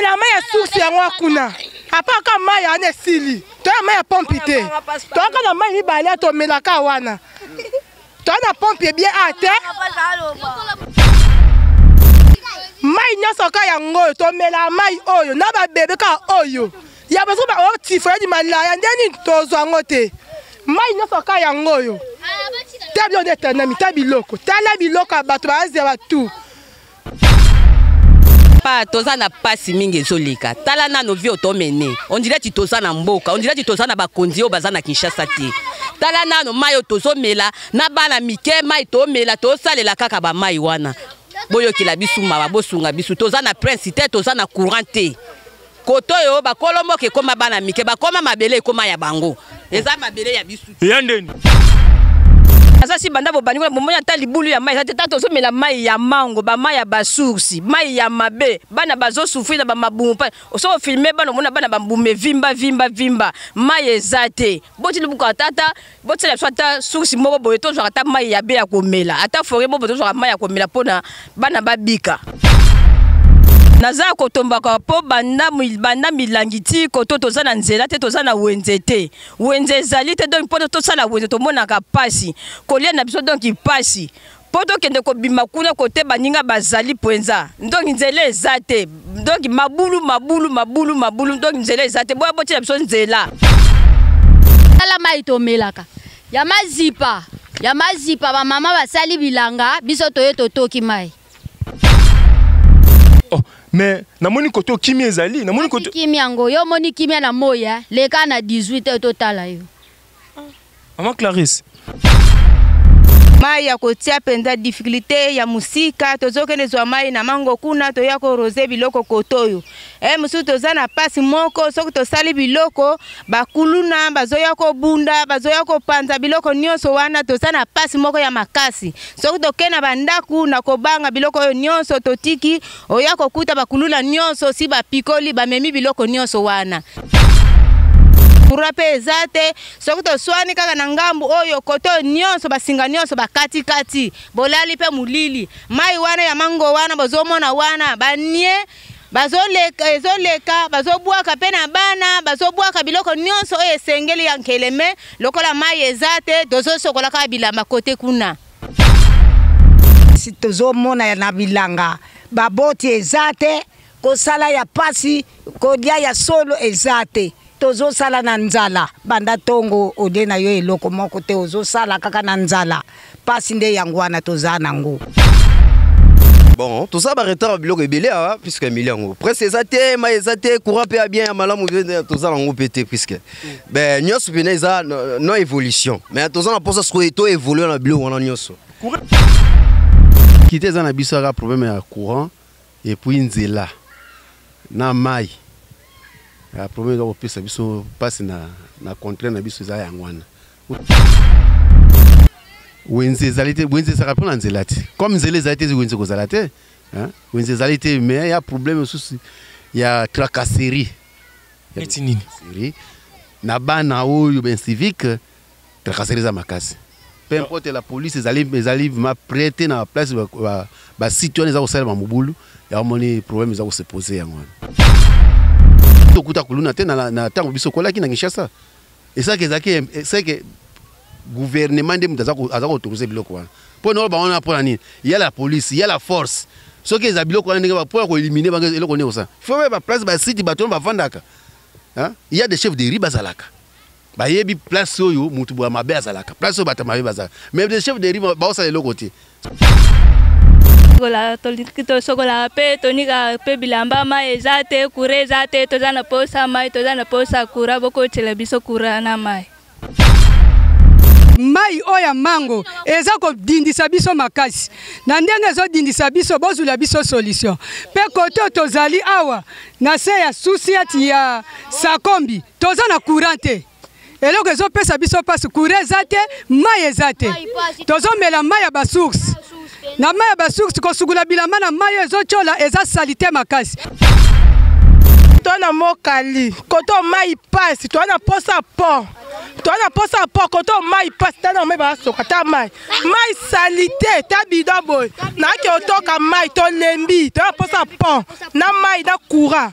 na mai ya source yango kuna apaka mai wana esili toya mai ya pompi te toyaka na mai mibale ya tomelaka wana toya na pompi ebie a te mai nyonso ka yango oyo tomela mai oyo na babebe ka oyo ya basoki baotifo ya limalaya nde nini tozwa yango te mai nyonso ka yango oyo ta biloko nde etanami ta biloko tala biloko ya bato baazela batu papa toza na pasi mingi ezoleka tala nano vie otomene ondire ti toza na mboka ondire ti toza na bakonzi oyo baza na kinshasa te tala nano mai oyo tozomela na bana mike mai tomela tosalela kaka bamai wana boyokela bisu mawa bosunga bisu toza na prince te toza na courant te koto oyo bakolo mboka ekoma bana mike bakoma mabele ekoma ya bango eza mabele ya bisu ya ndeni aza si banda bobandi kuna bomoni ata libulu ya mai eza te ntango tozomela mai ya mango bamai ya basoursi mai ya mabe bana bazosufri na bamabumu mpa osoko filme bana omona bana bambumu evimba vimba vimba mai eza te boti lubuka tata botiela biso ata source moko boye tozwaka ata mai ya be ya komela ata forie moko boye tozwaka mai ya komela mpo na bana babika naza ya kotombaka mpo banda, banda milangi ti koto toza na nzela te toza na wenze te wenze ezali te donk mpo tosala wenze tomonaka mpasi kolia na biso donk mpasi mpo tokende kobima kuna kote baninga bazali mpenza ndonki nzela eza te ndonki mabulu mabulu mabulu mabulu ndonki nzela eza te boya botyela biso nzela tala mai tomelaka ya mazipa ya mazipa bamama basali bilanga biso toye totoki mai oh, mais namoni kote okimi ezali namoni kote kimi yango yo omoni kimia na moi eh? leka na 18 totala yo Maman Clarisse. mai ya kotia mpenza difficulté ya mosika tozokende zwa mai na mango kuna toya korose biloko koto oyo e mosusu toza na mpasi moko soki tosali biloko bakuluna bazoya kobunda bazoya kopanza biloko nyonso wana toza na mpasi moko ya makasi soki tokei na bandako na kobanga biloko oyo nyonso totiki Oya kokuta bakuluna nyonso si bapikoli bamemi biloko nyonso wana. Courant mpe eza te, soki toswani kaka na ngambu oyo koto nyonso basinga nyonso bakati kati, bolali mpe molili. Mai wana ya mango wana bozomona wana banie bazoleka ezoleka bazobwaka mpe na bana bazobwaka biloko nyonso oyo esengeli ya nkeleme lokola mai eza te tozosokola kaka bilamba kote kuna. mpasi tozomona na bilanga baboti eza te kosala ya mpasi kolia ya solo eza te tozosala na nzala banda ntongo olie na yo eloko moko te ozosala kaka na nzala mpasi nde yango wana toza nango bon toza baretard ya biloko ebele awa puiske emili yango presse eza te mai eza te courant mpe ya bien ya malamu toza nango mpe te puiske be nyonso mpena eza no évolution mais toza na mposa sikoyo to évolue na biloko wana nyonso kite eza na biso aka problème ya courant epuis nzela na mai ya problème eza kopesa biso mpasi na, na contraire na biso eza yango wana wenze ezali te wenze ezalaka mpo na nzela te comme nzela ezali te wenze ekozala te wenze ezali te mais ya problème mosusu ya tracasserie neti nini siri na bana oyo ben civique tracasserie eza makasi peu importe la police ezali ezali vraiment prête na place ba, ba, ba site wana eza kosalema mobulu yango moni problème eza kose pose yango wana tokuta kuluna te na ntango biso kolaki na kinshasa esaki ezalaki seke gouvernement nde moto aza kotourse biloko wana mpo na oyo bango wana mpo na nini ya la police ya la force soki eza biloko wana ndenge mpo ya koelimine bango eloko nini kosala fo ba place basite bato wana bafandaka ya de chef de ri bazalaka bayebi place oyo moto boya mabe azalaka place oyo bato mabe bazalaka mais de chef de ri baosala eloko te tosokolaka mpe tonikaka mpe bilamba mai eza te kura eza te toza na posa mai toza na posa kura bokotela biso kura na mai mai oyo ya mango eza kodindisa biso makasi na ndenge ezodindisa biso bozwila biso solution mpe kote oyo tozali awa na se ya susiati ya sakombi toza na courant te eloko ezopesa biso mpasi kura eza te mai eza te tozomela mai ya basource na mai ya basource kosukula bilamba na mai oyo ezotyola eza salite makasi toa na mokali koto mai mpasi toa na mposa po toa na mposa po koto mai mpasi ta na mai basoka ta mai mai salite ta bido boye nayaki otoka mai tolembi toa na mposa po na mai na courant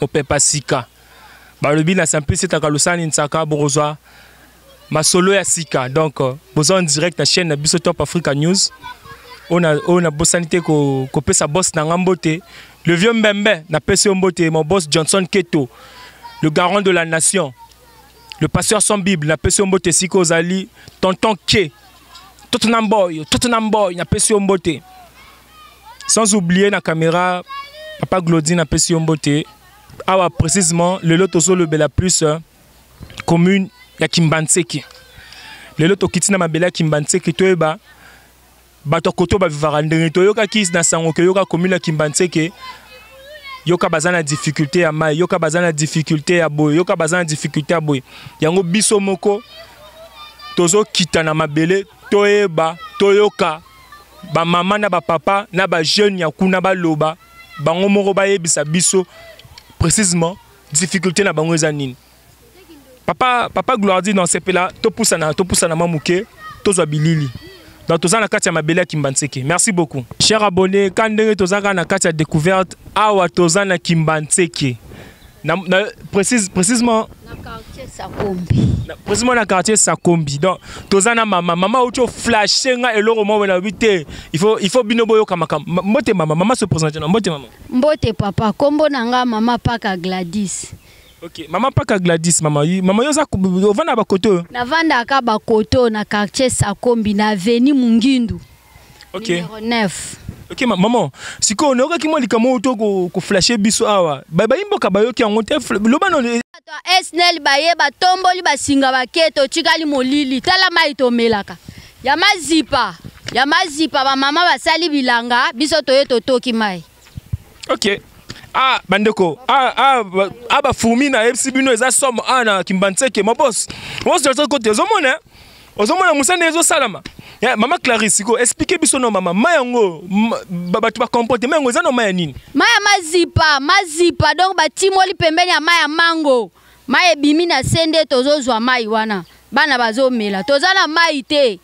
mopepa sika balobi na simplice takalusani nsaka bokozwa masolo ya sika donc euh, boza en direct na chaîne na biso top africa news oyo nabosani te kopesa boss na nga mbote le vieux mbembe napesi yo mbote mon boss johnson keto le garant de la nation le pasteur sans bible napesi yo mbote esika ozali tonton ke tottenham boy tottenham boy napesi yo mbote sans oublier na caméra papa glodine apesi yo mbote awa précisement lelo tozolobela plus euh, commune ya kimbanseke lelo tokiti na mabele ya kimbanseke toyeba bato ya koto bavivaka ndenge toyokaki na sango ke yoka commune ya kimbanseke yoka baza na difficulté ya mai yoka baza na difficulté ya boye yoka baza na difficulté ya boye yango biso moko tozokita na mabele toyeba toyoka ba mama na ba papa na ba jeune ya kuna baloba bango moko bayebisa biso précisément difficulté na bango eza nini papa papa gloire dit non sepela topusana topusana mwa moke tozwa bilili donc toza na kati ya mabele ya kimbanseke merci beaucoup cher abonné ka ndenge toza kaka na kati ya découverte awa toza na kimbanseke Na, na, précise, précisément na quartier Sakombi. Na, précisément na quartier Sakombi. Donc toza na mama, mama ocho flasher nga eloko moko na bité. Il faut il faut bino boyo kama kama. Mbote mama, mama se présente na mbote mama. Mbote papa, kombo na nga mama Paka Gladys. Ok, mama Paka Gladys, mama, mama yoza ovanda ba koto. Na vanda ka ba koto na quartier Sakombi na avenue Mungindu. Ok. Numéro 9. Ok, ma maman, sikoyo nayokaki mwa likambo oyo to ko- koflashe biso awa. Ba- Bayi mboka bayoki yango te. fl- Loba nano e- Bato ya SNEL baye batomboli basinga bake totikali molili tala mai tomelaka ya mazipa ya mazipa bamama basali bilanga biso toye totoki mai ok ah bandeko ah ah ba- ah ba fourmi na yebisi bino eza somme ah na kimbanseke ma boss boss ozo kote ozo mona hein? ozo mona musana ezo salama Eh, mama Clarisse ko expliquer biso no mama ma yango ma- ba- bato ba comportement yango eza no ma ya nini mai ya mazipa mazipa donc batimoli pembeni ya mai ya mango mai ebimi na se nde tozozwa mai wana bana bazomela toza na mai te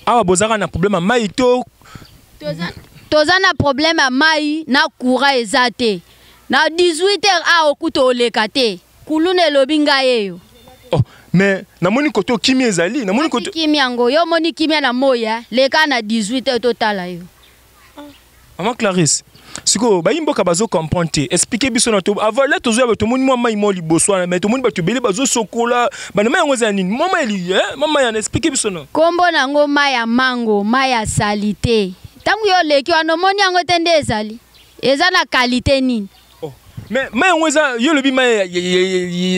awa bozalaka na problème ya mai to toza na problème ya mai na courant eza te na 18 heures awa okuta oleka te kuluna elobi ngai eyo oh, mais namoni koto kimia ezali namoni koto kimia yango yo omoni kimia na moi eh? leka na 18 heures totala yo Maman Clarisse, sikoyo bayi mboka bazo comprendre te expliquer biso na to avala tozoya bato tomoni mwa mai mwa liboso wana mai tomoni bato ebele bazosokola bana mai yango eza ya nini mwa mai eli eh, mwa mai yana expliquer biso na nkombo na yango mai ya mango mai ya salite ntango yo oleki wana omoni yango te nde ezali eza na kalite nini Oh. Mais mai yango eza yo olobi mai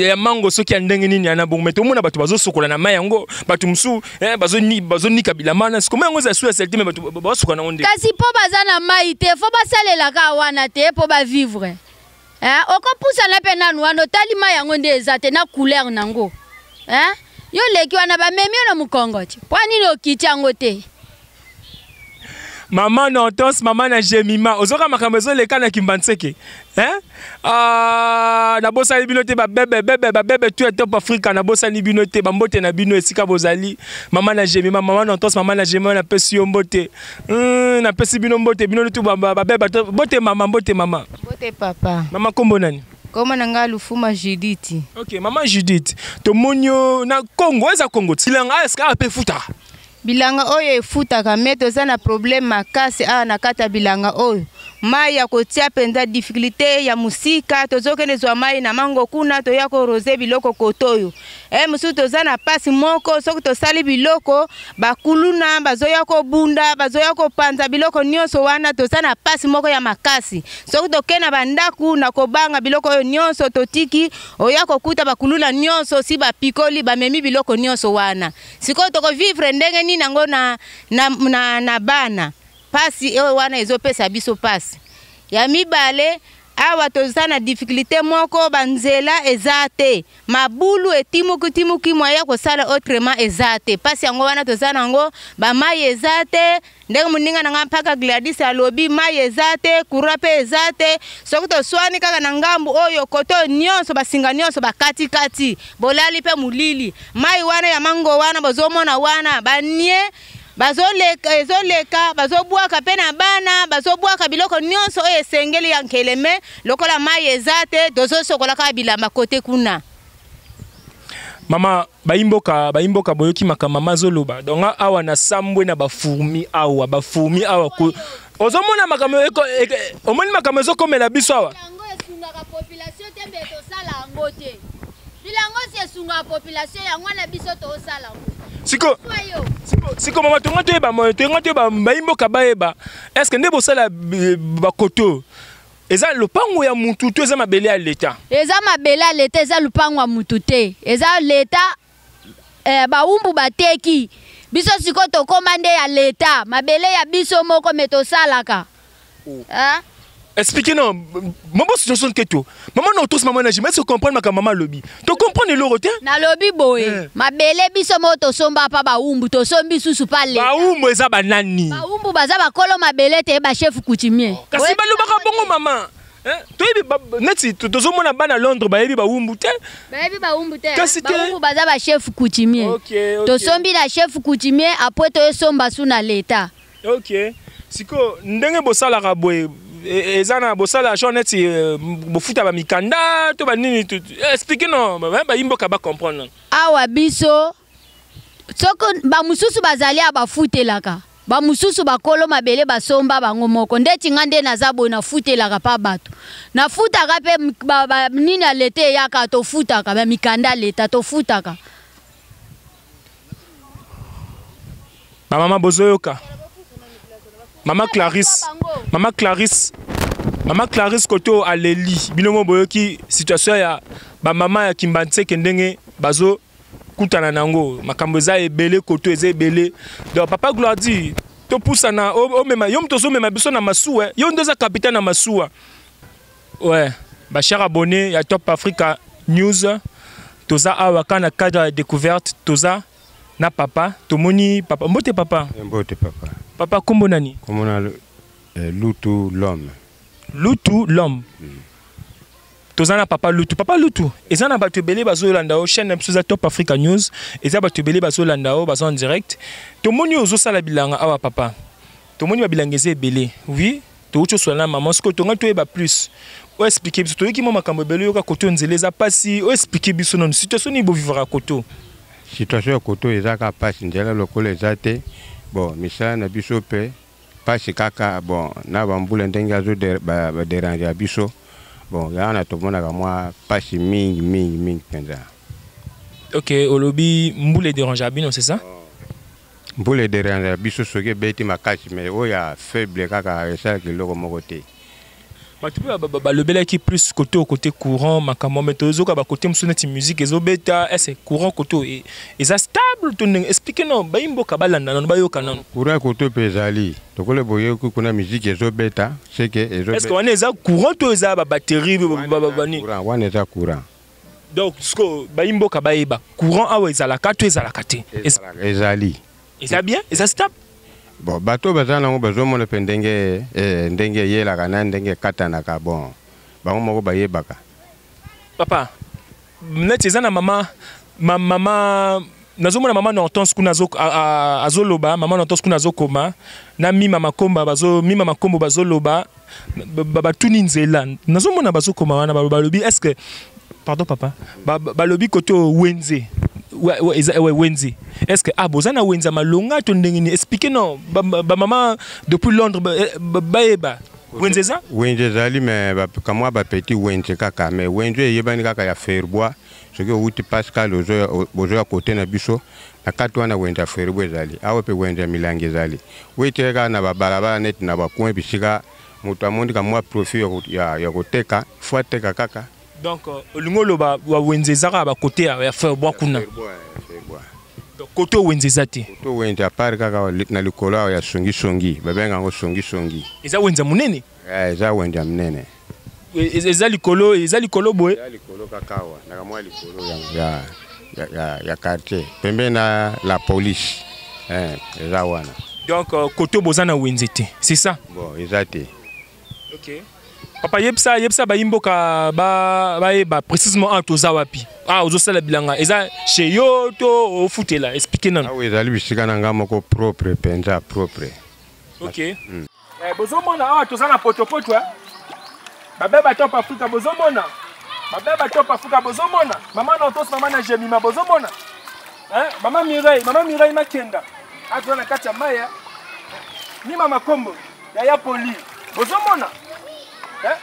ya mango soki ya ndenge nini ya na bongo mai tomona bato bazosokola na mai yango bato mosusu eh, bazonika bilama na siko mai yango eza su ya salite mai bato basokola nango nde kasi mpo baza na mai te fo basalelaka wana te mpo bavivre eh, okopusana mpe nanu wana otali mai yango nde eza te na couleur na yango eh? yo leki wana bamemi yo na mokongo ti mpo nini okiti yango te Maman Hortense, maman na Jemima, ozoka makambo ezoleka na Kimbanseke. Hein? Ah, na bosani bino te ba bebe bebe ba bebe tu top Africa na bosani bino te ba mbote na bino esika bozali. Maman na Jemima, maman na Hortense, maman na Jemima na pesi yo mbote. Hum, na pesi bino mbote, bino tu ba ba bebe mbote maman, mbote maman. Mbote papa. Maman kombo nani? Koma na nga Lufuma Judith. Ok, maman Judith, tomoni yo na Congo, eza Congo. Silanga eska ape futa. bilanga oyo efutaka me toza na problème makasi awa na kati ya bilanga oyo mai ya kotia mpenza difficulté ya mosika tozokende zwa mai na mango kuna toya korose biloko koto oyo e mosusu toza na mpasi moko soki tosali biloko bakuluna bazoya kobunda bazoya kopanza biloko nyonso wana toza na mpasi moko ya makasi soki tokei na bandako na kobanga biloko oyo nyonso totiki oya kokuta bakuluna nyonso si bapikoli bamemi biloko nyonso wana sikoyo toko vivre ndenge nini yango na, na, na, na bana pasi oyo wana ezopesa biso pasi ya mibale awa toza na difficulté moko banzela eza te mabulu etimukitimuki mwa ya kosala autrement eza te mpasi yango wana toza na yango bamai eza te ndenge moninga na ngai mpaka gladis alobi mai eza te kura mpe eza te soki toswani kaka na ngambu oyo koto nyonso basinga nyonso bakatikati bolali mpe molili mai wana ya mango wana bozomona wana banie bazoleka ezoleka bazobwaka mpe na bana bazobwaka biloko nyonso oyo esengeli ya nkeleme lokola mai eza te tozosokola kaka bilamba kote kuna mama bayimboka bayimboka boyoki makambo mama azoloba donc awa na sambwe na bafourmi awa bafourmi awa ozomona makambo omoni makambo ezokomela biso awa bilango si esungaka population yango wana biso tosala siko siko mama tonga toyeba moyo tonga toyeba bayimboka bayeba estce nde bosala bakoto eza lopango ya mutu to eza mabele ya leta eza mabele ya leta eza lopango ya mutu te eza leta eh, bawumbu bateki biso sikoyo tokoma nde ya leta mabele ya biso moko me tosalaka oh. eh? expliquer non maman situation keto maman na otos maman na jima est-ce que comprendre makambo maman alobi tocomprendre eloko te nalobi boye eh. mabele biso moko tosomba pa bawumbu tosombi susu pa leta bawumbu eza banani bawumbu baza bakolo mabele te bachef coutumier kasi balobaka bongo mama eh, toyebi neti tozomona bana londres bayebi bawumbu te bayebi bawumbu te kasi bawumbu baza bachef coutumier tosombi na chef coutumier apres toyesomba su na leta ok sikoyo ndenge bosalaka boye e, eza na bosala genre neti e, bofuta bamikanda to banini eh, explike no bayimboka bacomprendre awa biso soko bamosusu bazali ya bafutelaka bamosusu bakolo mabele basomba bango moko ndeti nga nde naza boye nafutelaka mpa bato nafutaka mpe nini ya leta eyaka tofutaka bamikanda leta tofutaka Ba mama bozoyoka. Mama Clarisse, mama Clarisse, mama Clarisse koto aleli bino mo boyoki situation ya ba mama ya Kimbanseke ndenge bazo kutana nango makambo eza ebele koto eza ebele. Donc papa Gloire dit topusana omema yo moto ozomema biso na masuwa yo nde oza kapita na masuwa Ouais, ba chers abonnés ya Top Africa News, toza awa ka na cadre ya découverte, toza na papa, tomoni papa. Mbote papa. Eh, mbote papa. Papa kombo nani? Kombo na eh, Lutu l'homme. Lutu l'homme. Mm. toza na papa lutu papa lutu eza na bato ebele bazolanda yo chaîne na biso eza top africa news eza bato ebele bazolanda yo baza en direct tomoni yo ozosala bilanga awa papa tomoni babilanga eza ebele oui touti oswana na mama sikoyo tongai toyeba plus oyo explike biso toyoki mwa makambo ebele oyoka koto nzela eza mpasi oyo explike biso nanu situation nini bovivaka koto situation ya koto eza kaka mpasi nzela lokola eza te bon misala na biso mpe mpasi kaka bon na bambula ndenge azo baderange ya biso bon yango na tomonaka mwa mpasi mingi mingi mingi mpenza ok olobi mbula ederange ya bino c'est ça oh. Mbula ederanja biso soki ebeti makasi mais oyo ya faible kaka esalaka eloko moko te bato mpe balobelaki plus kote oyo kote courant makambo me tozoka bakote mosusu neti musike ezobeta ese courant kote oyo e, eza stable to ndenge explike no bayi mboka balanda nano bayoka nano courant kote mpe ezali lokola boyoki kuna miziki ezobeta seke ezoeske wana eza courant to eza babatterie nini wana eza courant donc sikoyo bayi mboka bayeba courant awa ezalaka to ezalaka te ezali eza bien eza stable bon bato baza nango bazomona mpe ndenge eh, ndenge eyelaka na ndenge ekatanaka bon bango moko bayebaka papa neti eza na mama mama nazomona mama na hortense kuna azoloba mama na hortense kuna azokoma na mima makomba bazo mima makombo bazoloba batuni nzela nazomona bazokoma wana balobi est ce que pardon papa balobi kote wenze wenze est ce que ah boza na wenze ya malonga to ndenge nini expliquer non bamama depuis londres eh, bayeba wenze eza wenze ezali me kamwa bapeti wenze kaka me wenze eyebani kaka ya ferbois soki owuti pascal bozoya kote na biso na kati wana wenze ya feribo ezali awa mpe wenze ya milangi ezali wetire kaka na babalabala neti na bakoin bisika moto amoni ka mwa profit ya, ya koteka fo ateka kaka donc euh, olingi oloba wenze eza kaka bakote ya ferbois kuna kote wenze eza te kote wenze apart kaka na likolo awa ya songisongi babenga yango songisongi eza wenze ya monene eh, eza wenze ya monene eza likolo eza likolo boye eza likolo kaka awa ndaka mwa likolo ya, ya, ya, ya quartier pembeni na la police eh, eza wana donc euh, koto boza na wenze te c'est ça bon eza te okay. papa yebisa yebisa bayimboka bayeba ba précisément awa toza wapi ah ozosala bilanga eza chez yo to ofutela explike nanu awa ezali bisika na ngai moko propre mpenza propre okay. mm. Eh, bozomona awa toza na potopoto eh? babe batop afrika bozomona babe batop afrika bozomona mama na otos mama na jemima bozomona eh? mama mireille mama mireille makenda aza na kati ya mai eh? ni mama kombo yaya poli bozomona eh?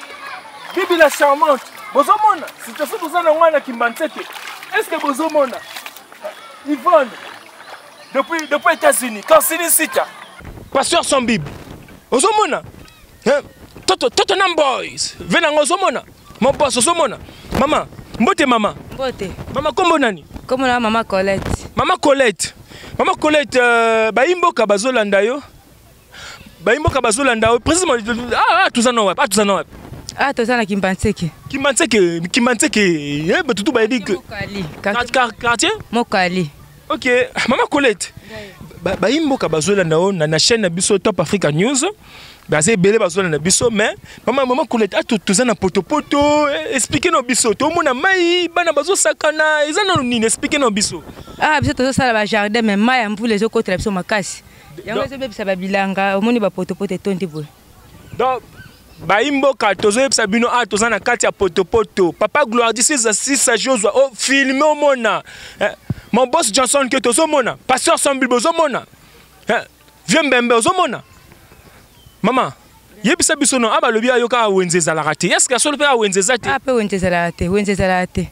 bibi la charmante bozomona situation toza na ngai na kimbanseke est ce que bozomona eh, yvonne depuis depuis États-Unis quand sini sita pasteur sans bible ozomona hein? toto toto nam boys vena ngo ozomona mon boss ozomona mama mbote mama mbote mama kombo nani kombo na mama Colette mama Colette mama Colette euh, bayimboka bazolanda yo Bayi mboka bazo landa yo président ah, ah toza na wapi? Ah toza na wapi? Ah toza na Kimbanseke. Kimbanseke, Kimbanseke. Eh batutu bayebi que quartier Mokali. OK, maman Colette. Bayi mboka bazo landa yo na chaîne na biso Top Africa News. baza ebele bazwala na biso mais mama mama koleta ato ah, toza na potopoto eh, explike na biso tomona mai bana bazosakana eza nano nini explike na biso ah biso tozosala bajardin mais mai ya mvula ezokotela biso makasi yango ezobebisa babilanga omoni bapotopoto etondi boye donc bayimboka tozoyebisa bino awa ah, toza na kati ya potopoto papa gloire disi eza sisa josua o oh, filme omona eh, mon boss johnson ke tozomona pasteur sambilbe ozomona eh, vieux mbembe ozomona mama yebisa biso no awa ah, balobi ayoka wenze ezalaka te eske ya solo mpe awa wenze eza te awa ah, mpe wenze ezalaka te wenze ezalaka te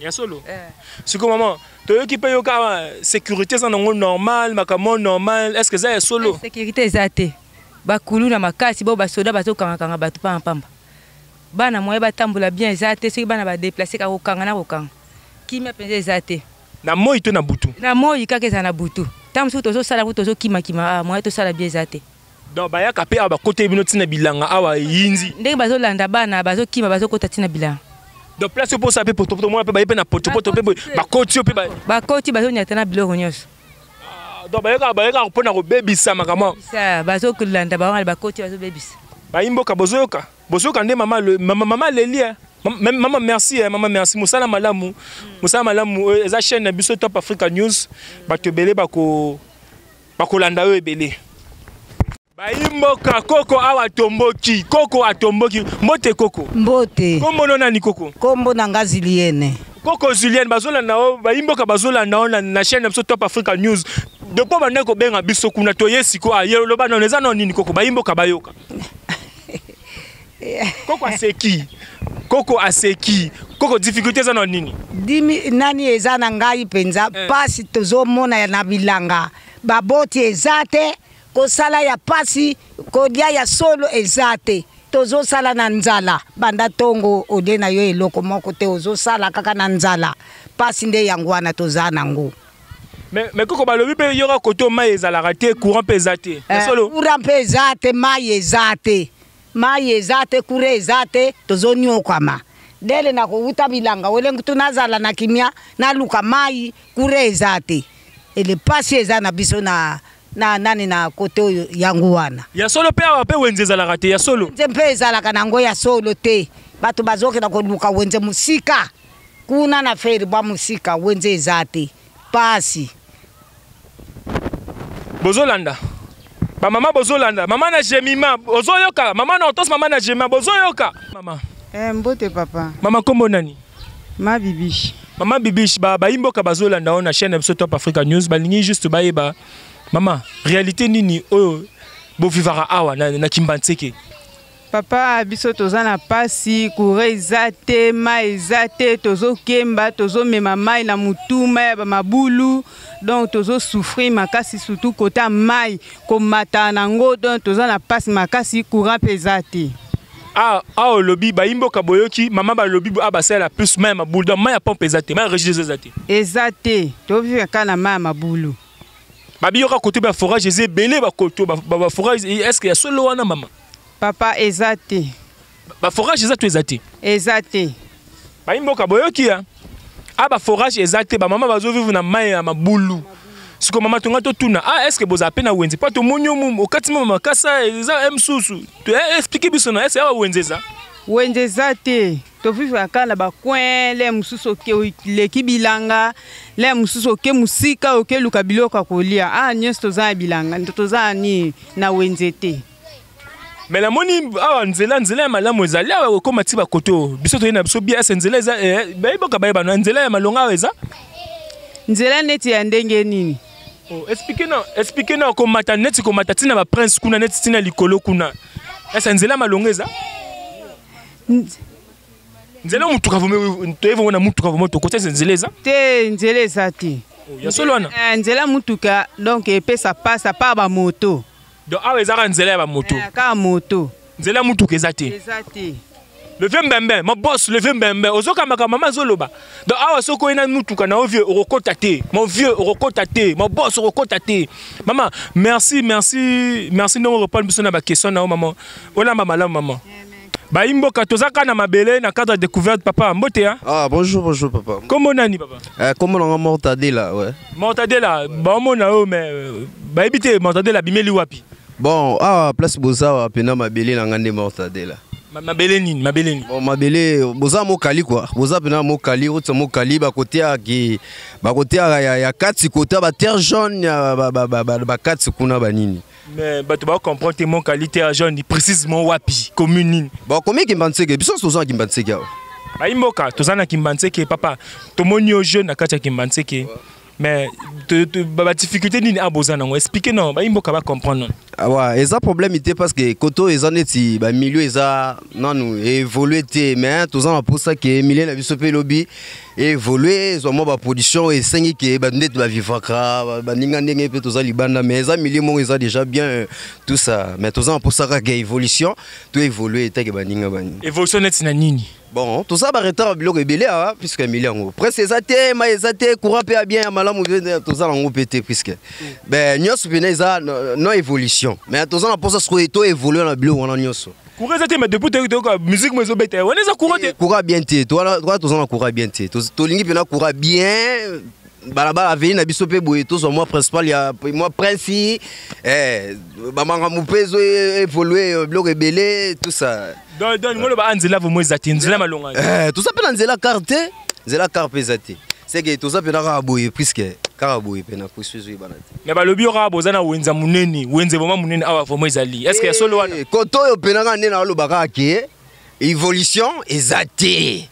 ya solo eh. siko maman toyoki mpe yoka sécurité eza nango normal makambo normal est ce que eza ya solo eh, sécurité eza te bakulu na makasi bao basoda bazokangakanga bato mpambapamba bana moye batambola bien eza te soki bana badeplace kaka kokanga na kokanga kimia mpenza eza te na moi to na butu na moi kaka eza na butu ntango mosuku tozosala yango tozokimakima ah, moye tosala bien eza te donc bayaka mpe awa bakoteli bino ntina bilanga awa eyindi ndenge bazolanda bana bazokima bazokota ntina bilanga donc place opo osala mpe potopoto mwana mpe baye mpe na potopoto mpe bakoti yo mpe bakoti bazonyata na biloko nyonso ah, donc bayekaka bayekaka mpo na kobebisa makambo bazolanda bawana bakoti bazobebisa bayimboka bozoyoka bozoyoka nde mama mama leli eh. mama merci eh, mama merci mosala malamu mosala malamu eh, eza chaîne na biso top africa news bato ebele bako bakolanda yo ebele bayimboka koko awa tomboki koko atomboki mbote koko mbote kombono nani koko kombo na nga ziliene koko ziliene bazolanda yo bayimboka bazolanda yo na chaîne na biso top africa news depo bandaki kobenga biso kuna toye sikoyo aye oloba nano eza nao nini koko bayimboka bayoka koko aseki koko aseki koko difficulté eza na nini dimi nani eza na ngai mpenza eh. mpasi tozomona na bilanga baboti eza te kosala ya mpasi kolia ya solo eza te tozosala na nzala banda ntongo olie na yo eloko moko te ozosala kaka na nzala mpasi nde yango wana toza nango me koko balobi mpe yoka koto mai ezalaka te courant mpe eza te eh, courant mpe eza te mai eza te Mayi eza te, courant eza te, tozo niokwama. Dele na kowuta bilanga wele nkutu nazala na kimia naluka mayi, courant eza te. Ele pasi eza na biso na na nani na kote oyo yango wana. Ya solo pe awa pe wenze ezalaka te ya solo. Wenze mpe ezalaka na yango ya solo te. Bato bazokenda koluka wenze mosika kuna na feri bwa mosika wenze eza te. pasi bozolanda bamama bozolanda mama na jemima ozoyoka mama na otos mama na jemima bozoyoka mama eh, mbote papa mama nkombo nani ma bibishi mama bibishi bayimboka ba bazolanda oyo na chaîne ya biso top africa news balingi juste bayeba mama réalité nini oyo bovivaka awa na, na kimbanseke papa biso toza na pasi kure eza te mai eza te tozokemba tozomema mai na motu mai ya bamabulu donc tozosouffrir makasi surtout kota mai komata na yango donc toza na pasi makasi courant mpe eza te awa ah, ah, olobi bayimboka boyoki mama balobi awa ah, basalela plus mai ya mabulu donc mai ya pompe eza te mai ya regideso eza te eza te toviva kaka na mai ya mabulu babiyoka koto ba forage eza ebele bakoto baforage estce ya solo wana mama Papa eza te. Ba forage eza to eza te. Eza te. Ba imboka boyoki ya. Ah ba forage eza te ba mama bazo vivre na mayi ya mabulu. Siko mama tonga to tuna. Ah est-ce que boza pe na wenze? Pa to monyo mu okati mama makasa eza msusu. To eh, expliquer biso na est-ce ya wenze eza? Wenze eza te. To vivre aka na ba coin le mususu oke leki bilanga le mususu oke musika oke luka biloko kolia. Ah nyonso toza na bilanga. Toza ni na wenze te. me namoni awa nzela nzela ya malamu ezali awa ekokoma ti bakoto biso toyei na biso bias nzela eza eh, bayiboka bayebana nzela ya malonga awa eza nzela neti ya ndenge nini oh, explike na explike na komata neti komata ntina baprince kuna neti ntina likolo kuna esa nzela malonga eza nzela motuka toyebi yango na motuka vraimen tokoti esa nzela eza te nzela eza te oh, ya solo wana eh, nzela motuka donc epesa pasa pa bamoto donc awa eza kaka nzela ya bamoto eh, kaka moto nzela ya motuka eza te eza te leve mbembe ma boss leve mbembe ozokamaka mama azoloba donc awa soki oye na motuka na yo vieux okokota te mon vieux okokota te ma boss okokota te mama merci merci merci ndenge orepondre biso na baquestion na yo mama olamba malamu mama yeah. bayi mboka toza kaka na mabele na cadre ya découverte papa mbote ya ah bonjour bonjour papa kombo nani papa eh, kombo nanga mortadela ouais. mortadela baomona oyo mais euh, bayebi te mortadela abimeli wapi bon awa ah, place boza awa mpena mabele na ngai nde mortadela mabele nini mabele nini bon, mabele boza mokali kua boza mpena mokali oti mokali bakoteaki bakoteaka ya, ya kati kota baterre jaune ya bakati ba, ba, ba, ba, kuna banini mais bato ba comprendre te mon qualité ya jaune précisément wapi commune nini bakomi kimbanseke biso toza na kimbanseke awa bayimboka toza na kimbanseke papa tomoni yo jeune na kati ya kimbanseke mais badifficulté nini a boza nango explike na bayimboka bacomprendre awa ah eza problème te parce que kote oyo eza neti bamilio eza nanu évolue te mais toza na mposa ke milie na biso mpe lobi evolue zwa mwa baproduction oyo esengi ke bato ndeti bavivaka baninga ndenge mpe toza libanda mais eza milieu moko eza déjà bien euh, tout ça mais toza na mposa kaka évolution to évolue etake baninga baninga évolution neti na nini bon toza baretard ya biloko ebele awa puisque emili yango presse eza te mai eza te courant mpe ya bien ya malamu toza na yango mpe te puisque nyonso mpena eza no évolution mais toza na mposa sikoyo to évolue na biloko wana nyonso courant eza te mais depuis toyoki toyoka musique mo ezobeta wana eza courant te courant bien te wana toza na courant bien te tolingi mpena courant bien balabala aveni na biso mpe boye tozwa mwa principal ya mwa princi eh, bamakambo mpe ezo evolue biloko ebele tusa ngoloba a ah, nzela vraimen eza te nzela malonga eh, toza mpe na nzela kar te nzela kar mpe eza te seke toza mpe na kaka boye puiske kaka boye mpe na kusu ezoyebana mais balobi yo kaka boza na wenza monene wenze vraimen monene awa vraimen ezali est ce que ya solo wana eh, koto oyo mpena kaka nde naoloba kaka ke évolution eza te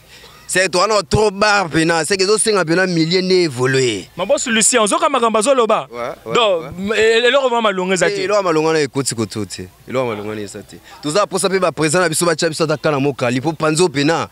seke wana trop bar mpena seke ezosenga mpena milie nde évolue mabosu lucien ozoka makambo azoloba donc e-, eloko vraimen malonga eza te eh, eloko malonga na ekoti koto te eloko malonga na eza te toza mposa mpe baprésent na biso batya biso ata kala mokali mpo panzo mpena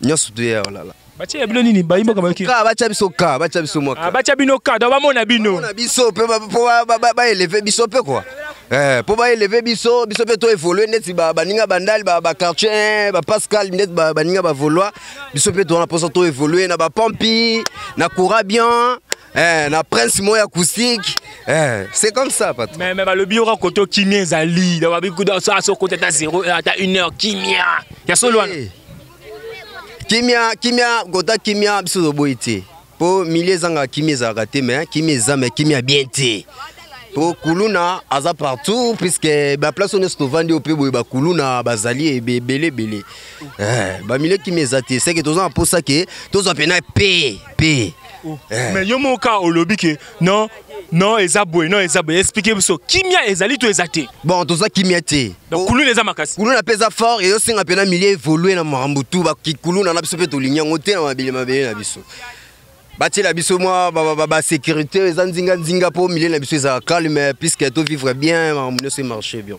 nyonso toye ya olala batie ya bino nini bayi mboka bayoki ka batia biso ka batia biso mwa ka batia bino ka donc bamona bino na biso mpe mpo baeleve biso mpe kua Eh, mpo baeleve biso biso mpe toevolue neti baninga bandali baquartier eh, bapascal neti baninga bavolois biso mpe towana mposa toevolue na bapompi na courabian Eh, na prince moi acoustique eh, c'est comme ça patron mais, mais balobi yoka kote oyo kimia ezali asokote ata 0 ata 1 heure kimia ya solo wana eh. kimia kimia kota kimia biso toboyi te mpo milie ezanga kimia ezalaka te mais kimia eza mais kimia bien te mpo kuluna aza partout puiske baplace oyo nyonso tovandi oyo mpe boye bakuluna bazali ebele ebele eh, bamilie kimia eza te seke toza na mposa ke tozwa mpena pe pe oh. eh. mais yo moko kaka olobi ke non non eza boye non eza boye explike biso kimia ezali to eza te bon toza kimia te oh. kuluna eza makasi kuluna mpe eza fort ezosenga mpe na milieu évolue na makambo tu bakikuluna na biso mpe tolingi yango te na mabele mabele na biso batiela biso mwa basécurité eza nzinganzinga mpo milieu na biso ezala calme puisque tovivre bien makambo nyonso emarche bien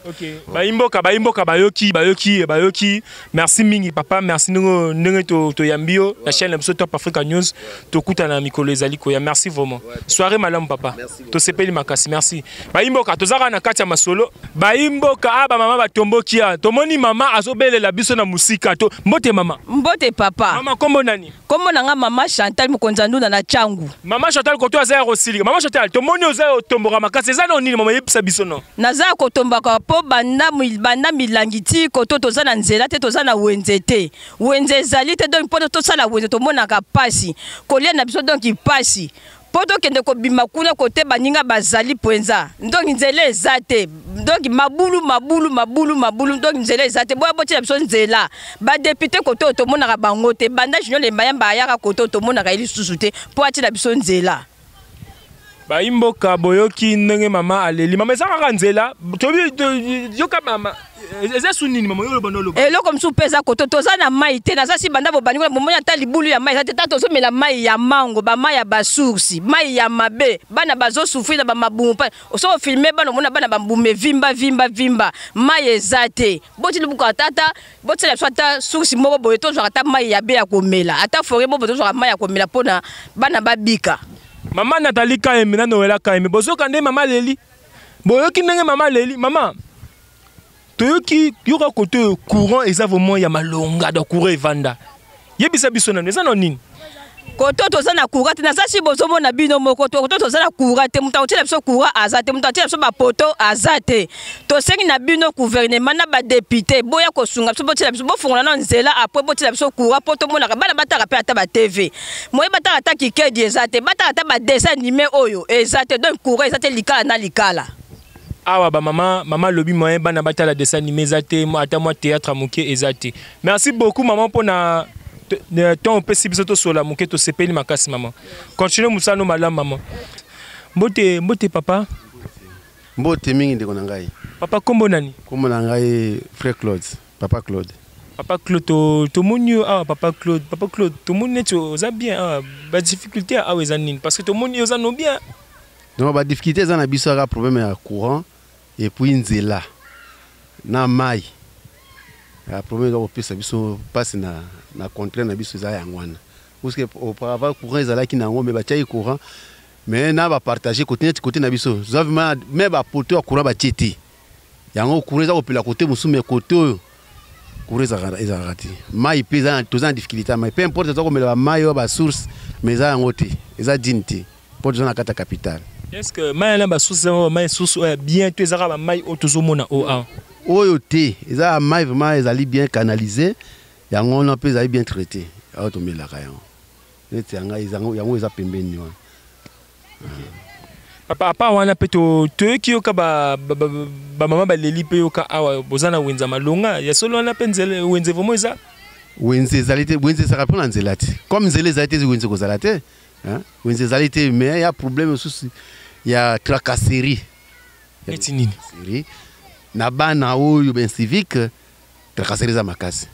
bayimboka bayimboka bayoki bayoki bayoki merci mingi papa merci ndenge ndenge to to yambio la chaîne biso top africa news to kuta na mikolo ezali koya merci vraiment soirée malamu papa to sepeli makasi merci bayimboka tozaka na kati ya masolo bayimboka a ah, ba mama batombokia tomoni mama azobelela biso na musika to mbote mama mbote papa mama kombo nani Kombo na nga mama Chantal Mukonza Ndunda na Changu. Mama Chantal koto aza ya kosilika. Mama Chantal tomoni oza yo tomboka makasi eza no nini mama yebisa biso no. Naza ya kotombaka po banda banda milangi ti koto toza na nzela te toza na wenze te. Wenze ezali te donc po tosala wenze tomonaka pasi. Kolia na biso donc pasi. mpo tokende kobima kuna kote baninga bazali mpenza ndonki nzela eza te ndonki mabulu mabulu mabulu mabulu ndonki nzela eza te boya botyela biso nzela badepute kote oyo tomonaka bango te banda junior lembayamba ayaka kote oyo tomonaka ye lisusu te mpo atyela biso nzela bayimboka boyoki ndenge mama aleli mama eza kaka nzela yoka mama Eh, eza su nini mama yo oloba noloba eloko mosusu mpe eza koto toza na mai te naza si banda bobandi kuna bomoni ata libulu ya mai eza te ta tozomela mai ya mango bamai ya basoursi mai ya mabe bana bazosufri na bamabumu mpa osoko filme bana omona bana bambumu evimba vimba vimba mai eza te boti libuku atata botiela biso ata soursi moko boye tozwaka ata mai ya be ya komela ata fore bobo tozwaka mai ya komela mpona bana babika mama natali kaeme nanowela kaeme bozoka nde mama leli boyoki ndenge mama leli mama toyoki yoka kote oyo courant eza vraiment ya malonga da courant evanda yebisa biso nano eza na nini koto toza na courant te naza si bozomona bino moko koto toza na courant te moto akotyela biso courant aza te moto atyela biso bapoto aza te tosengi na bino gouvernement na badepute boya kosunga biso botyela biso bofungola na nzela apres botyela biso courant mpo tomonaka bana bataka mpe ata batv moye bataka ata kikedi eza te bataka ata badessin anime oyo eza te donc courant eza te likala na likala awa ba maman maman lobi moyen bana batala dessin animé eza te ata mwa théâtre moke eza te merci beaucoup maman mpo na ntongo opesi biso tosola moke tosepeli makasi maman continue mosala no malamu maman mbote mbote papa mbote mingi ndeko na ngai papa nkombo nani nkombo na ngai frère claude papa claude papa claude tomoni yo awa papa claude papa claude tomoni neti oza bien awa badifficulté awa eza nini parce que tomoni yo oza no bien donc ba difficulté eza na biso aka problème ya courant et puis nzela na mai ya problème eza kopesa biso mpasi na, na contraire na biso eza yango wana puisque auparavant courant ezalaki na yango me batiaki courant me na bapartage kote neti kote na biso zwa vraimen me bapoto ya courant batie te yango courant eza kopela kote mosusu me kote oyo courant ezalaka ezalaka te mai mpe toza na difficulté ya mai mpe importe toza komela bamai oyo basource mais eza yango te eza dine te mpo toza na kati ya capitale est ce que mai na basource ezaka bamai source oyo ya bien to ezaka bamai oyo tozomona oyo awa oyo te eza ya mai vraiment ezali bien canalise yango wana mpe ezali bien traité oyo tomelaka yango neti ya ngai ezango yango eza pembeni wana papa apa wana mpe toyoki yoka bamama baleli mpe yoka awa boza na wenze ya malonga ya solo wana mpe nzele wenze vraimen eza wenze ezali te wenze ezalaka mpo na nzela te comme nzela ezali te wenze kozala te wenze ezali te mais ya problème mosusu ya tracasserie neti nini na bana oyo ben civique Tracasserie eza makasi.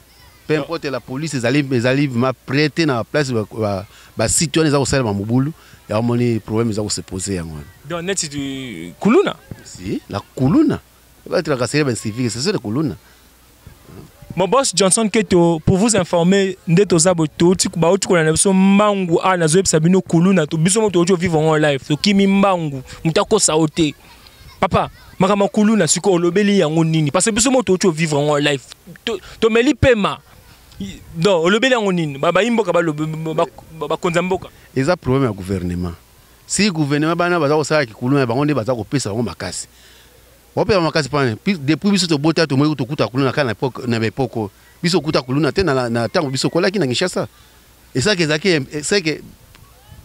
Peu importe la police ezali ezali vraiment près te na place ba, ba, ba site wana eza kosalema mobulu ya omoni problème eza kose poser yango wana. Donc neti du kuluna. Si la kuluna ba tracasserie ba civique c'est ça la kuluna. Mon boss Johnson Keto, pour vous informer, nde toza bo toti ba oti kolana biso mbangu a nazo yebisa bino kuluna to biso moto ojo vivre en live. To kimi mbangu, mutako saote. papa makambo ya kuluna sikoyo olobeli yango nini parce que biso moto oti ovivre yango life tomeli to pema donc olobeli yango nini bayi mboka bakonza mboka eza problème ya gouvernement si gouvernement bana baza kosala kikuluna bango nde baza kopesa bango makasi opema makasi pane depuis biso tobota tomoi tokuta kuluna kaka na baepoko biso okuta kuluna te na ntango biso kolaki na kinshasa esaki ezalaki seke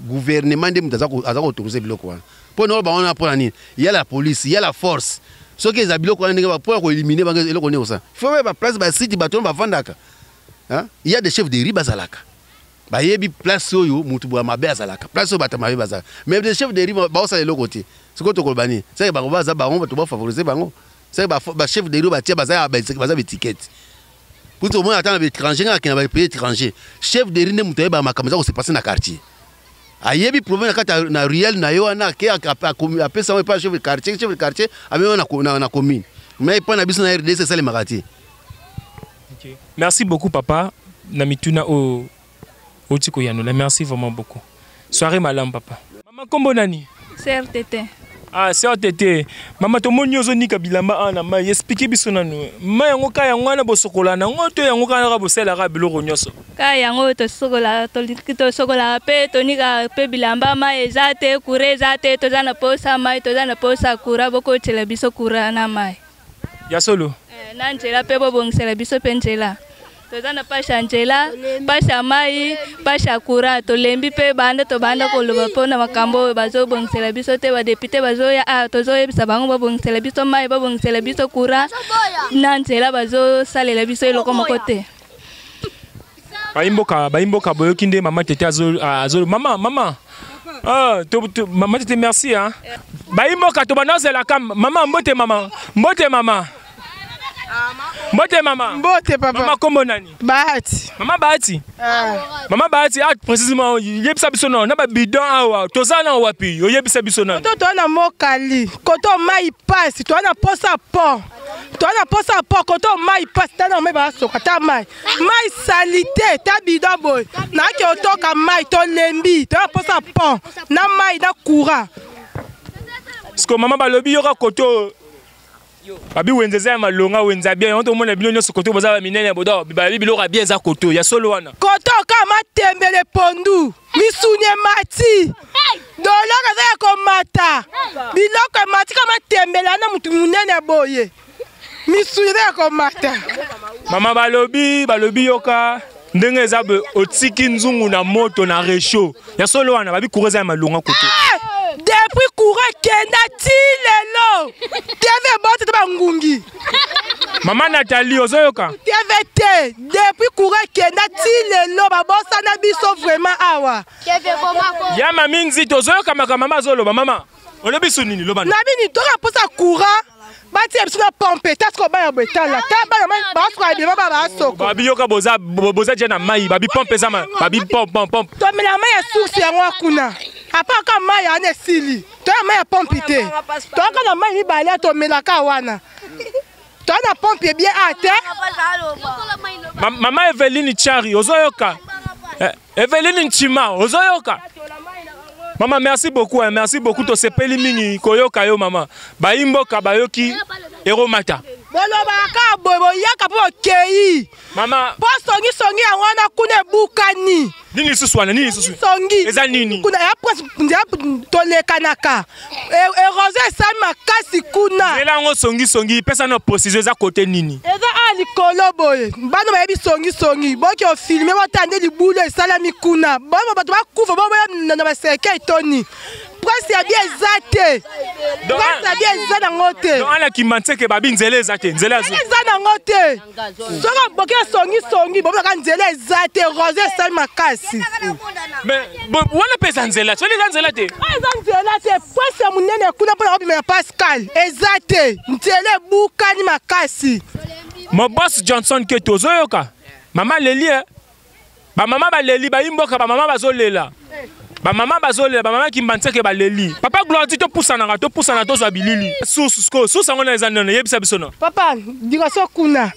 gouvernement nde moto aza koautorise biloko wana mpo na oyo bango wana mpo na nini ya la police ya la force soki eza biloko wana ndenge mpo ya koelimine bango eloko nini kosala fo bayeba place basite bato wana bafandaka ya de chef de ri bazalaka bayebi place oyo moto boya mabe azalaka place oyo bato mabe bazalaka mais de chef de ri baosala eloko te sikoyo tokoloba nini seke bango baza bango bato bafavorise bango C'est ba ba chef de ba tia baza ba baza étiquette. Pour tout le monde attend l'étranger na kina ba pays étranger. Chef de rine mutu ba makambo za ko se passer na quartier. Ayebi problème na kata na ruelle na yo na ke a pesa pa chef de quartier chef de quartier a même na na commune. Mais pas na biso na RDC ça les makati. Merci beaucoup papa na mituna o Oti koyanola. Merci vraiment beaucoup. Soirée malamu papa. Mama kombo nani? Sœur Tete. Ah, sœur Tete. Mama tomoni ozo nika bilamba ana mai. Expliquer biso nanu. Mai yango ka yango wana bosokola na ngo to yango kana ka bosela ka biloko nyoso. Ka yango to sokola to to sokola pe to nika pe bilamba mai eza te, kure eza te, toza na posa mai, toza na posa kura boko tshela biso kura na mai. ya solo eh, na nzela mpe bobongisela biso mpe nzela toza na pashe ya nzela pashe ya mai pashe ya courant tolembi mpe banda tobanda koloba mpo na makambo oyo bazobongisela biso te badepute bazoya awa ah, tozoyebisa bango babongisela biso mai babongisela biso courant na nzela bazosalela biso eloko moko te bayimboka bayimboka boyoki nde mama tete azo azo mama mama ah to, to mama tete merci hein bayimboka to banazela kam mama mbote mama mbote mama mbote mama mbote papa mama kombo nani bahati mama bahati ah. mama bahati ah précisément yebisa biso na na ba bidon awa toza na wapi oyebisa biso na to to na mokali koto mai pasi to na posa pont toza na mposa ya poko to mai mpasi ta na mai basoka ta mai mai salite ta bido boye nayaki otoka mai tolembi toza na mposa ya pont na mai na courant siko mama balobi yoka koto babi wenze eza ya malonga wenze ya bien yango tomona bino nyonso koto boza baminene ya bodo babi biloko ya bien eza koto ya solo wana koto kaka matembele pondu misuni emati dolore eza ya komata biloko emati kama tembela na motu monene ya boye misuni eza ya komata mama balobi balobi yoka ndenge eza boye otiki nzungu na moto na rechaud ya solo wana babi kura eza ya malonga kutu eh! depuis kura ekenda ti lelo tv eboti te bangungi mama natali ozoyoka tv te depuis coura ekenda ti lelo babosana biso vraiment awa ya mami nzito ozoyoka makambo mama azoloba mama olobi so nini loba na bini toka mposa coura batia biso na pompe taske obaya boye tala ta bana basokola bima ba basoko babiyoka boza boza je na mai babi pompe eza babi pompe pompe tomela mai ya source yango kuna apa kaka mai ana esili toya mai ya pompi te toyaka na mai mibale ya tomelaka wana toya na pompi ebie a te mama eveline chari ozoyoka eh, eveline nchima ozoyoka mama merci beaucoup hein, merci beaucoup tosepeli mingi koyoka yo mama bayi mboka bayoki eromata bolobaka boye boyaka mpo bokei mama po songi songi yango wana kuna ebukani nini lisusu wana nini lisusu songi eza nini kuna ya presse nzela tolekanaka e, erosion esali makasi kuna nzela yango songi songi pesa no precision eza kote nini eza a likolo boye bana bayebi songi songi boki ofilme botala nde libulu esalami kuna bana bato bakufa boboya na basekei toni presse ya bia eza te presse ya bia eza nango te ana kimanseke babi nzela eza te nzela eza nango te soki aboki esongi songi bomonaka nzela eza te rose esali makasi wana mpe eza nzela soni eza nzela te ah, eza nzela te pwasi ya monene kuna mpona kobima ya pascal eza te nzela ebukani makasi mobos johnson keto ozoyoka mama lelie eh? bamama baleli bayi mboka bamama bazolela bamama bazolela bamama kimbanseke baleli papa gloire ti topusanaka topusana tozwa bilili susu sikoyo susu yango na eza nene yebisa biso na papa liboso kuna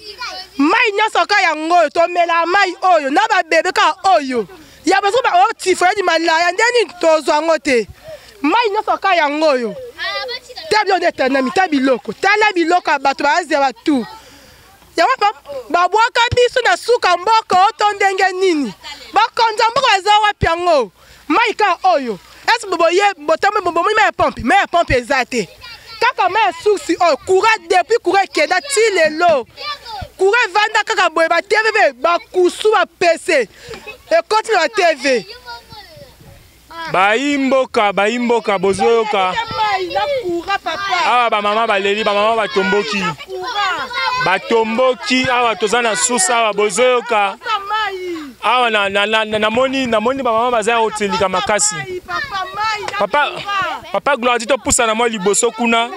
mai nyonso ka yango oyo tomela mai oyo na babebe ka oyo ya baso baotifoyadi malaya nde nini tozwa yango te mai nyonso ka yango oyo ta biloko nde etandami ta biloko tala biloko ya bato baazela batu yango babwaka biso na suka mboka oyo to ndenge nini bakonza mboka baza wapi yango mai ka oyo esi boye botambe bomoni mai ya pompe mai ya pompe eza te kaka mai ya susi oyo kura depuis kura ekenda ti lelo kura evanda kaka boye batv bakusu bapese ekoti na batv bayi mboka bayi mboka bozoyoka awa bamama baleli bamama batomboki batomboki awa toza na susa awa bozoyoka awa namoni namoni bamama baza ya kotilika makasi papa papa gloire ti topusana mwa liboso kuna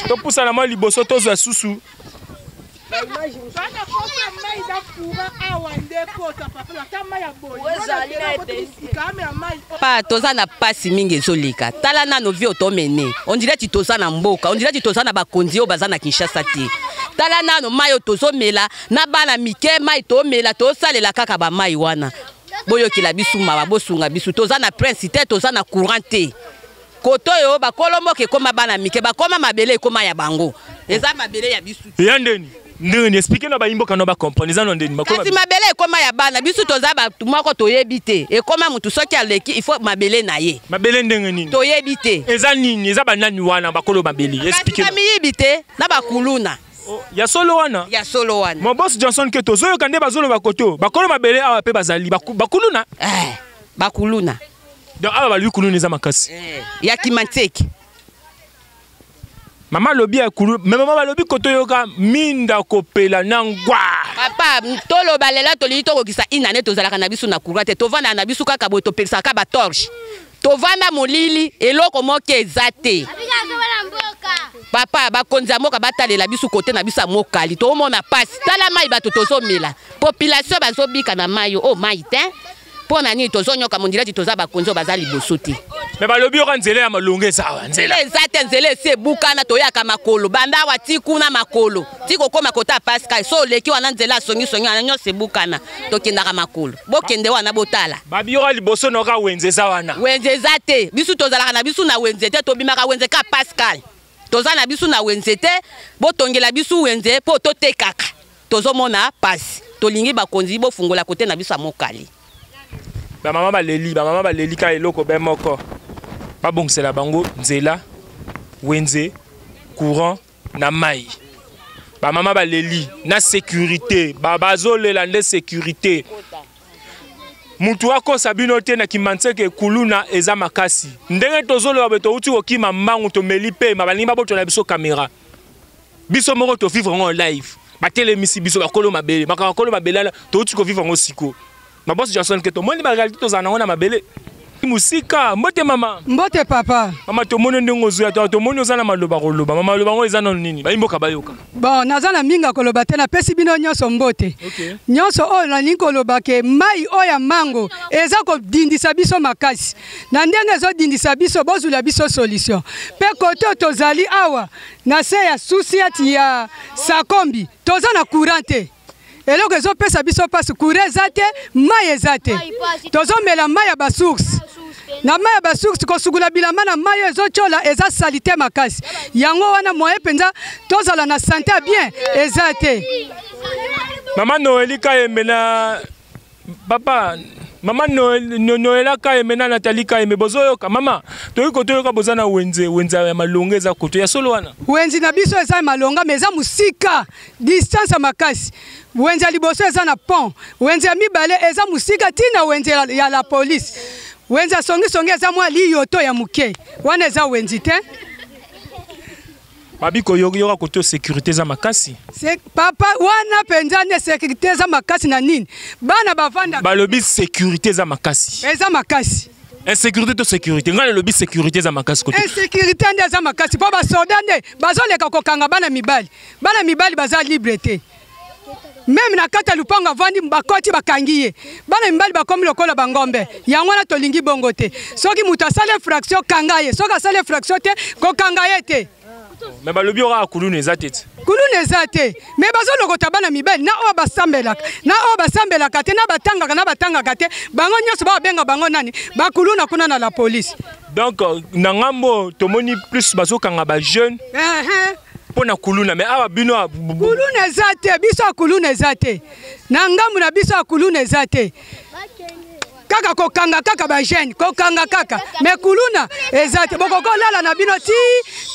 topusana mwa liboso tozwa susu bana kosa mai na kura awa nde kota papelo ata mai ya boyeikame ya mai pa toza na mpasi mingi ezoleka tala nano vie otomene ondire ti toza na mboka ondire ti toza na bakonzi oyo baza na kinshasa te tala nano mai oyo tozomela na bana mike mai tomela tosalela kaka bamai wana boyokela biso mawa bosunga biso toza na prince te toza na courant te koto oyo bakolo mboka ekoma bana mike bakoma mabele ekoma ya bango eza mabele ya bisu ya ndeni ndenge ni explike na bayimboka na bacomprendre eza na ndeni kasi mabele ekoma ya bana biso toza bato moko toyebi te ekoma motu soki aleki il faut mabele na ye mabele ndenge nini toyebi te eza nini eza banani wana bakolo mabele explike na miyibi te na bakuluna oh, ya solo wana ya solo wana mon boss johnson keto ozoyoka nde bazoloba koto bakolo mabele awa mpe bazali bakuluna eh, bakuluna donc awa balobi kuluna eza makasi eh, ya kimanteke mama alobi ya kuluna me mama balobi kotoyoka minda kopela na ngwa papa toloba lela tolingi tokokisa inane tozalaka na biso na courant te tovandaka na biso kaka boye topekisaka batorche tovanda molili eloko moko eza te papa bakonzi ya mboka batalela biso kote na biso ya mokali toomona mpasi tala mai bato tozomela population bazobika na mai o oh, mai te mpo na nini tozonyoka mondilati toza bakonzi oyo baza liboso te me balobi yoka nzela ya malonga eza awa nzela eza te nzela esi ebukana toyaka makolo banda awa ti kuna makolo ti kokoma kota pascal so oleki wana nzela asongisongi wana nyonso ebukana tokendaka makolo bokende wana botala babiyoka liboso noka wenze eza wana wenze eza te bisu tozalaka na bisu na wenze te tobimaka wenze ka pascal toza na bisu na wenze te botongela bisu wenze mpo totekaka Tozo mona pasi. Tolingi bakonzi bofungola kote na biso ya Mokali. Ba mama baleli, ba mama baleli ka eloko be moko. Babongisela bango nzela, wenze, courant na mai. Ba mama baleli na sécurité, ba bazolela nde sécurité. Mutu akosa bino te na Kimanseke kuluna eza makasi. Ndenge tozoloba be touti kokima mbangu tomeli pema balingi babotona biso kamera. biso moko to vivre en live batelemisi biso bakolo mabele makambo bakolo mabele wana touti kovivre yango sikoyo mabosi johnson ke tomoni barealité tozala nango na mabele mosika mbote mama mbote papa mama tomoni ndenge ozoya to tomoni oza na maloba koloba mama maloba yango eza nano nini bayimboka bayoka bon naza na mingi ya koloba te napesi bino nyonso mbote okay. nyonso oyo nalingi koloba ke mai oyo ya mango eza kodindisa biso makasi na ndenge ezodindisa biso bozwila biso solution mpe kote oyo tozali awa na se ya susiati ya sakombi toza na courant te eloko ezopesa biso mpasi courant eza te mai eza te tozomela mai ya basource na mai ya basource kosukula bilamba na mai oyo ezotyola eza salite makasi yango wana moye mpenza tozala na sante ya bien eza te mama noeli kayembe na papa mama noela kayembe na natali kayembe bozoyoka mama toyei kotoyoka boza na wenze wenze ya malonga eza koto ya solo wana wenze na biso eza ya malonga ma eza mosika distance ya makasi wenze ya liboso eza na pont wenze ya mibale eza mosika ntina wenze ya la polise wenze ya songisongi eza mwa liyoto ya moke wana eza wenze te babi koyoka koto sécurité eza makasi papa wana mpenza nde sécurité eza makasi na nini bana bavanda balobi sécurité eza makasi eza makasi insécurité to sécurité ngai nalobi sécurité eza makasi kote insécurité nde eza makasi mpo basoda nde bazoleka kokanga bana mibali bana mibali baza libre te meme na kati ya lupango avandi bakoti bakangi ye bana mibali bakomi lokola bangombe yango wana tolingi bongo te soki moto asali infraction kanga ye soki asali infraction te kokanga ye te me balobi yo kaka kuluna eza te ti kuluna eza te me bazolokota bana mibali na oyo basambelaka na oyo basambelaka te na batangaka na batangaka te bango nyonso babenga bango nani bakuluna kuna na la polise donc na ngambo tomoni plus bazokanga bajeune uh -huh. mpo na kuluna me awa bino kuluna eza te biso ya kuluna eza te na ngambo na biso ya kuluna eza te kaka kokanga kaka bajeune kokanga kaka me kuluna eza te bokoki olala na bino ti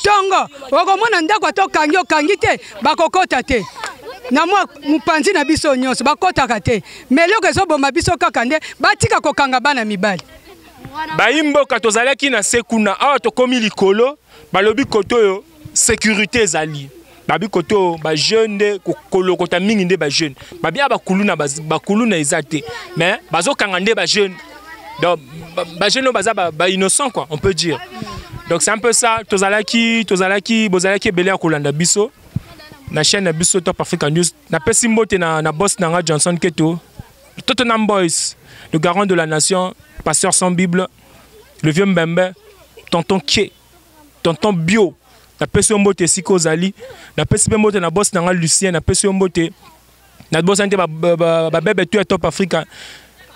ntongo okomona ndako ata okangi okangi te bakokota te na mwa mopanzi na biso nyonso bakotaka te me eloko ezoboma biso kaka nde batika kokanga bana mibali bayimboka tozalaki na se kuna awa tokomi likolo balobi koto oyo sécurité ezali babi kote oyo bajeune nde kolokota mingi nde bajeune babi ya bakuluna bakuluna eza te mais bazokanga nde bajeune donc bajeune oyo baza bainnocent quoi on peut dire donc c'est un peu ça tozalaki tozalaki bozalaki ebele ya kolanda biso na chaîne na biso top africa news napesi mbote na, na boss na nga johnson keto tottenham boys le garant de la nation pasteur sans bible le vieux mbembe tonton kie tonton bio napesi yo mbote esika ozali napesi mpe mbote na bosi na ngai lucien napesi yo mbote nabosani te babebe to ya top africa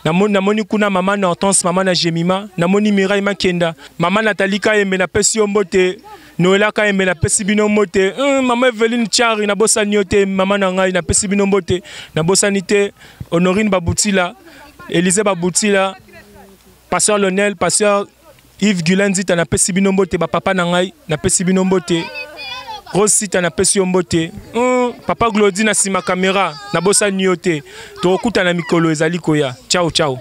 namoni namoni kuna mama na hortense mama na gemima namoni mirai makenda mama natali kayembe napesi yo mbote noela kayembe napesi bino mbote mm, mama eveline chari nabosani yo te mama na ngai napesi bino mbote nabosani te honorine babutila elize babutila pasteur lonel pasteur Yves Gula Nzita na pesi bino mbote ba papa na ngai na pesi bino mbote Rose Sita na pesi yo mbote mm, papa Glody na sima kamera na bosa niyo te tokokuta na mikolo ezali koya ciao ciao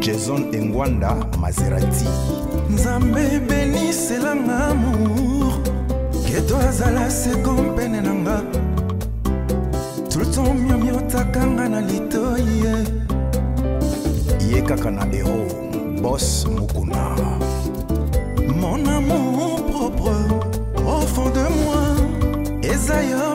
Jason Engwanda Maserati Nzambe benisela nga amour Keto azala seko mpene na nga Tout le temps miomiotaka nga na litoyi Ye kaka na hero Boss Mukuna Mon amour propre au fond de moi Eza yo